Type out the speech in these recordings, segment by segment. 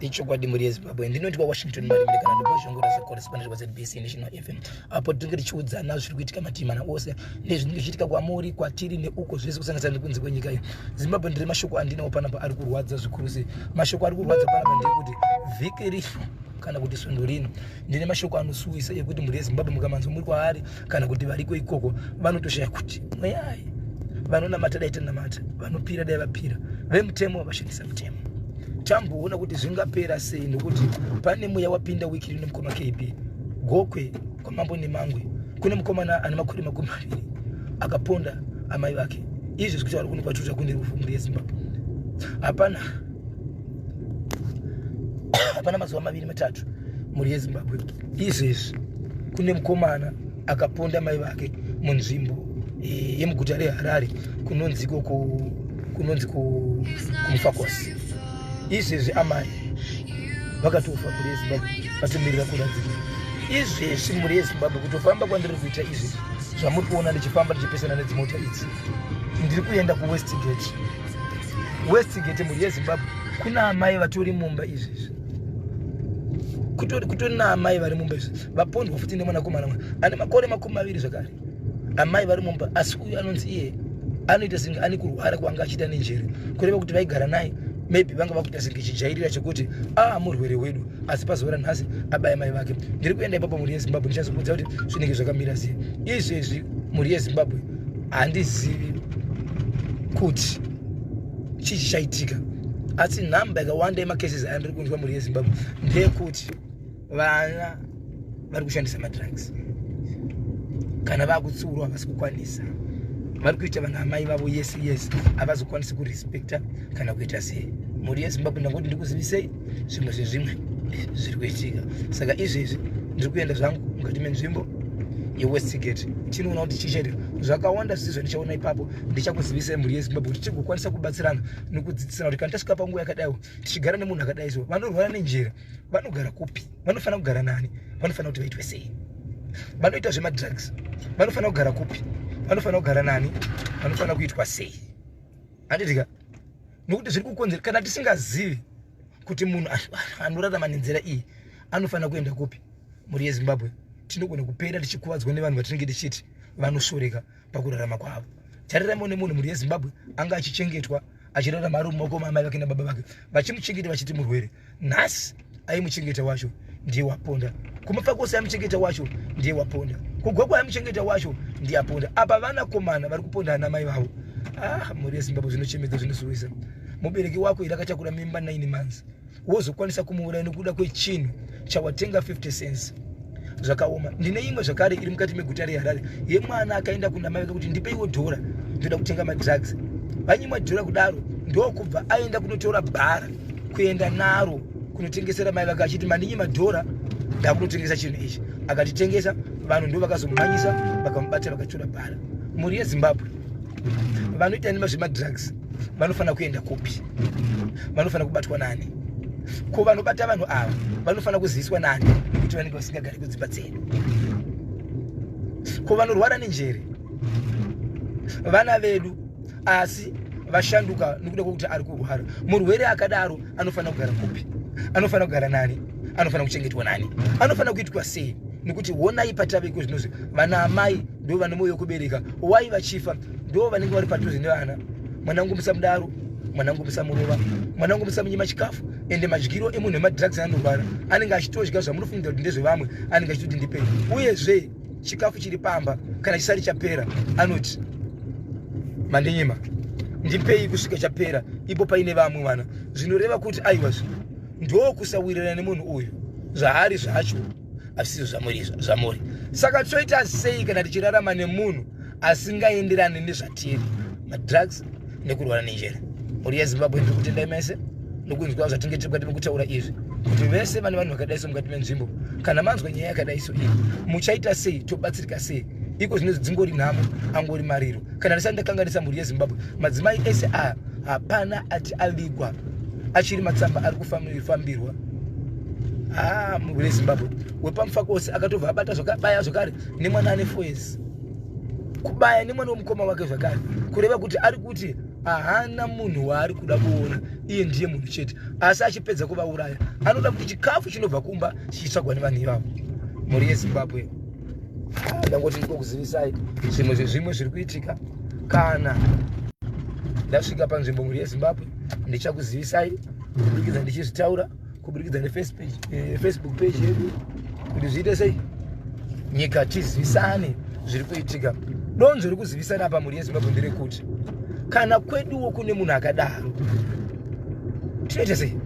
ichokwadi mhuri yezimbabwe ndinoti kwawashington marimire kana ndibozvongora zvecorrespondent kwazbc national fm apo tinenge tichiudzana zviri kuitika matimana ose nezvinenge zvichiitika kwamuri kwatiri neuko zvese kusanganisira nekunze kwenyika iyo zimbabwe ndiri mashoko andinawo panapa ari kurwadza zvikuru sei mashoko ari kurwadza panapa ndeyekuti vhiki rino kana kuti svondo rino ndine mashoko anosuwisa ekuti mhuri yezimbabwe mukamanzwa muri kwaari kana kuti variko ikoko vanotoshaya kuti mweyai vanonamata dai tanamata vanopira dai vapira vemutemo vashandisa mutemo tamboona kuti zvingapera sei nokuti pane mweya wapinda wiki rino mukoma kb gokwe kwamambo nemangwe kune mukomana ane makore makumi maviri akaponda amai vake izvi zvikuti vari kuno kwatuta kune rufu mhuri yezimbabwe hapana hapana mazuva maviri matatu mhuri yezimbabwe izvezvi kune mukomana akaponda mai vake munzvimbo eh, yemuguta reharare kunonzi ikoko kunonzi kumufakosi izvezvi amai vakatofa mhuri yezimbabwe vatomirira kuradzika izvezvi mhuri yezimbabwe kutofamba kwandiri kuita izvezvi zvamuri kuona ndichifamba ndichipesana nedzimota idzi ndiri kuenda kuwestgate westigate mhuri yezimbabwe kuna amai vatori mumba izvezvi kutori naamai vari mumba izvi vapondwa futi nemwanakomana mwana ane makore makumi maviri zvakare amai vari mumba asi uyu anonzi iye anoita senge ane kurwara kwanga achiita nenjere kureva kuti vaigara naye maybe vanga vakuita senge chijairira chekuti aa ah, murwere wedu asi pazuva ranhasi abaya mai vake ndiri kuenda ipapo mhuri yezimbabwe ndichazokudza kuti zvinenge zvakamira sei izvezvi mhuri yezimbabwe handizivi kuti chii chichaitika asi nhamba yakawanda yemacases aya ndiri kunzwa mhuri yezimbabwe ndeyekuti vana vari kushandisa madrugs kana vakutsiurwa havasi kukwanisa vari kuita vana amai vavo yes yes havazokwanisi kurespecta kana kuita sei mhuri yezimbabwe ndangoti ndikuzivisei zvimwe zvezvimwe zviri kuitika saka izvezvi ndiri kuenda zvangu mukati menzvimbo yewestgate tinoona kuti chichaita zvakawanda zvisi zvandichaona ipapo ndichakuzivisai mhuri yezimbabwe kuti tigokwanisa kubatsirana nokudzidzisana kuti kana tasvika panguva yakadaiwo tichigara nemunhu akadai so vanorwara nenjera vanogara kupi vanofanira kugara nani vanofanira kuti vaitwe sei vanoita zvemadrugs vanofanira kugara kupi vanofanira kugara nani vanofanira kuitwa sei anditika nokuti zviri kukonzera kana tisingazivi kuti munhu anorarama nenzira iyi anofanira kuenda kupi mhuri yezimbabwe tinogona kupera tichikuvadzwa nevanhu vatinenge tichiti vanoshoreka pakurarama kwavo tariramo nemunhu mhuri yezimbabwe anga achichengetwa achirarama ari mumaoko maamai vake nababa vake vachimuchengeta vachiti murwere nhasi aimuchengeta wacho ndiye waponda kumapfakosi aimuchengeta wacho ndiye waponda kugwagwa aimuchengeta wacho ndiye aponda apa vana komana vari kuponda ana mai vavo ah mhuri yezimbabwe zvinochemedza zvinosuwisa mubereki wako iri akatakura mimba 9 months wozokwanisa kumuuraya nekuda kwechinhu chawatenga 50 cents zvakaoma ndine imwe zvakare iri mukati meguta reharare yemwana akaenda kunamai vake kuti ndipeiwo dhora ndoda kutenga madrugs vanyimwa dhora kudaro ndokubva aenda kunotora bhara kuenda naro kunotengesera mai vake achiti mandinyi madhora ndakunotengesa chinhu ichi akatitengesa vanhu ndo vakazomumanyisa vakamubatira vakatora bhara mhuri yezimbabwe vanoita nema zvemadrugs vanofanira kuenda kupi vanofanira kubatwa nani ko vanobata vanhu ava vanofanira kuziviswa nani nekuti vanenge vasingagari kudzimba dzedu ko vanorwara nenjere vana vedu asi vashanduka nokuda kwokuti ari kurwara murwere akadaro anofanira kugara kupi anofanira kugara nani anofanira kuchengetwa nani anofanira kuitwa sei nekuti honai patave iko zvinozvi vana amai ndo vane mwoyo wekubereka wai vachifa ndivo vanenge vari padhuze nevana mwanangu musamudaro mwanangu musamurova mwanangu musamunyima chikafu ende madyiro emunhu emadrugs anorwara anenge achitodya zvamunofungira kuti ndezvevamwe anenge achitoti ndipei uyezve chikafu chiri pamba kana chisari chapera anoti mandinyima ndipei kusvika chapera ipo paine vamwe vana zvinoreva kuti aiwazvo ndokusawirirana nemunhu uyu zvaari zvacho asizvo zvamuri zvamuri saka toita sei kana tichirarama nemunhu asingaenderani nezvatiri madrugs nekurwara nenjere mhuri yezimbabwe ndiri kutendai mese nokunzwa zvatinge tiri mukati mekutaura izvi kuti vese vane vanhu vakadai so mukati menzvimbo kana manzwa nyaya yakadai so iyi muchaita sei tobatsirika sei iko zvinonzi dzingori nhamo angori mariro kana ndisati ndakanganisa mhuri yezimbabwe madzimai ese aya hapana ati avigwa achiri matsamba ari kufambirwa haa ah, mhuri yezimbabwe wepamufako ose akatobva abata zvakabaya zvakare nemwana ane foyes kubaya nemwana wemukoma wake zvakare kureva kuti ari kuti ahana munhu waari kuda kuona iye ndiye munhu chete asi achipedza kuvauraya anoda kuti chikafu chinobva kumba chichitsvagwa nevanhu ivavo mhuri yezimbabwe ah, ndangoti ndikokuzivisai zvimwe zvezvimwe zviri kuitika kana ndasvika panzvimbo mhuri yezimbabwe ndichakuzivisai kuburikidza ndichizvitaura kuburikidza nefacebook page eh, yedu kuti zviite sei nyika tizivisane zviri kuitika donzvo rekuzivisana apa mhuri yezimbabwe nderekuti kana kweduwo kune munhu akadaro tinoita sei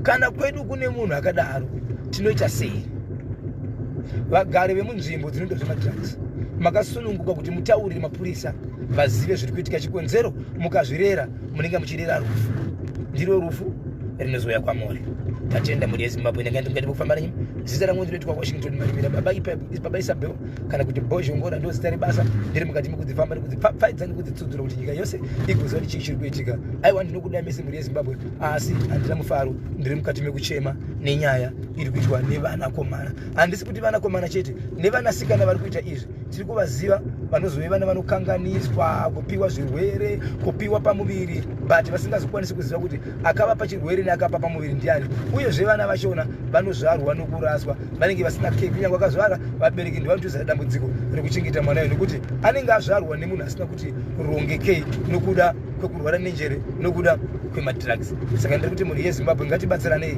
kana kwedu kune munhu akadaro tinoita sei vagari vemunzvimbo dzinoita zvemadrugs makasununguka kuti mutaurire mapurisa vazive zviri kuitika chikonzero mukazvirera munenge muchirera rufu ndiro rufu rinozouya kwamuri tatenda mhuri yezimbabwe ndingaendimukati mukufamba renyu zita rangu ndinoitwa washington marimira baba isabel kana kuti bhozhongora ndozita rebasa ndiri mukati mekudzifamba nekudzipfapfaidza nekudzitsudzura kuti nyika yose igoziva kuti chii chiri kuitika aiwa ndinokuda mese mhuri yezimbabwe asi handina mufaro ndiri mukati mekuchema nenyaya iri kuitwa nevanakomana handisi kuti vanakomana chete nevanasikana vari kuita izvi tiri kuvaziva vanozove vana vanokanganiswa kupiwa zvirwere kupiwa pamuviri but vasingazokwanisi kuziva kuti akavapa chirwere neakapa pamuviri ndiani uyezve vana vachona vanozvarwa nokuraswa vanenge vasina care kunyange akazvara vabereki ndivanotoisa dambudziko rekuchengeta mwana yo nekuti anenge azvarwa nemunhu asina kuti rongekei nokuda kwekurwara nenjere nokuda kwemadrugs saka ndiri kuti mhuri yezimbabwe ngatibatsiranei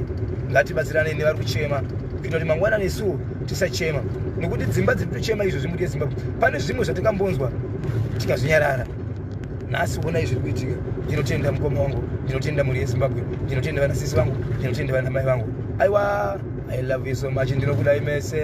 ngatibatsiranei nevari kuchema kuita kuti mangwana nesuwo tisachema nekuti dzimba dziri kutochema izvo zvimhuri yezimbabwe pane zvimwe zvatingambonzwa tikazvinyarara nhasi onai zviri kuitika ndinotenda mukoma wangu ndinotenda mhuri yezimbabwe ndinotenda vanasisi vangu ndinotenda vanamai vangu aiwa I love you so much ndinokudai mese